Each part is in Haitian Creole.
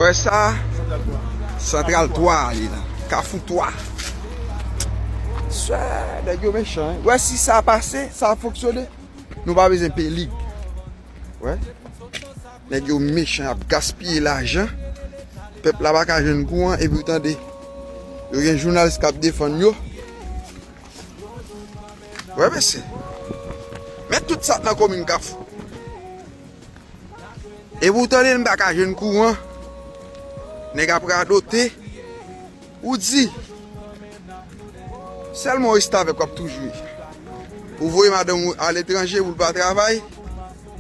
Wè sa santral 3 a li la kafou 3 sè nèg yo mechan wi wè si sa pase sa ap fonksyone nou pa bezwen peye lig wè nèg yo mechan yap gaspiye lajan pèp la paka jwenn kouran epi ou tande yo gen jounalis kap defann yo wè mesye men tout sa nan komin kafou. Epi ou tande n paka jwenn kouran, nèg ap radote, ou di, sèlman restavèk wap tou jwe. Ou voye madanm ou aletranje pou l pa travay,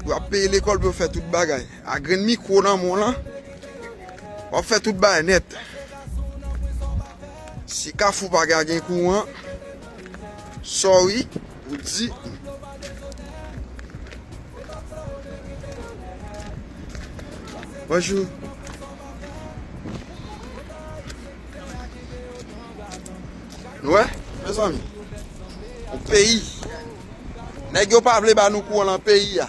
pou yo ap peye lekòl, pou yo fè tout bagay. A grenn mikwo nan men w lan, wap fè tout bagay nèt. Si kafou pa gen kouran, sorry, Ou di m. Bonjou. Nou wè mezanmi yon peyi nèg yo pa vle ba nou kouran lan peyi a.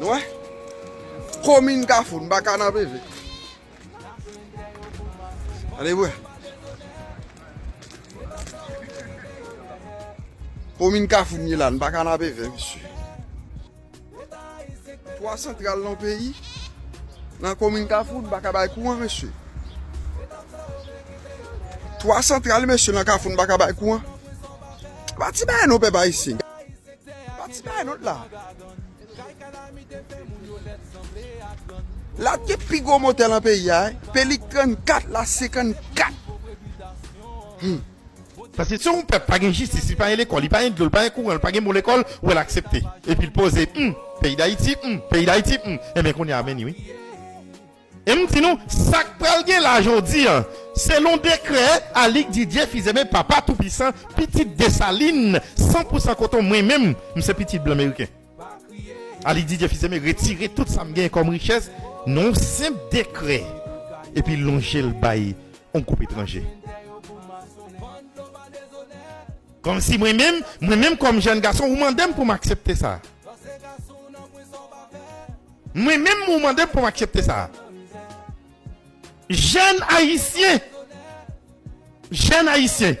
Nou wè? Komin Kafou, nou pa ka nan prive. Gade pou wè. Komin Kafou nou ye la, nou pa ka nan prive, mesye. Twa santral nan yon peyi, nan komin kafou nou paka bay kouran mesye. Twa santral mesye nan kafou nou paka bay kouran. Se pa ti bagay non pèp ayisyen. Se pa ti bagay non la. La te pi gwo motè nan peyi a, pelik 34 la 54. Paske si yon pèp pa gen jistis, li pa gen lekòl, li pa gen dlo, li pa gen kouran, li pa gen bon lekòl, ou wè l aksepte. Epi l poze, Hum! Peyi Dayiti, hum! Peyi Dayiti, hum! Enben kounye a vini wi. E m di nou, sa k pral gen la jodi an, selon dekrè Alix Didier Fils-Aimé Papa Toupisan, pitit Dessalines, san pou san koton mwen menm, m se pitit blan meriken. Aly Didier Fils Aimé retire tout sa m genyen kòm richès nan yon senp dekrè epi lonje l bay yon gwoup etranje. Kòmsi mwen menm, mwen menm kòm jèn gason ou mande m pou m aksepte sa? Mwen menm ou mande m pou m aksepte sa? Jèn ayisyen! Jèn ayisyen!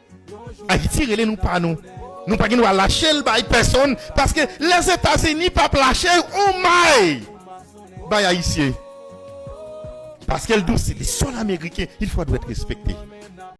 Ayiti rele nou pa nou. Nou pa gen dwa lache l bay pèsonn paske Lèzetazini pap lache yon may bay Ayisyen paske l dous se li sòl ameriken il fwa dwèt respekte.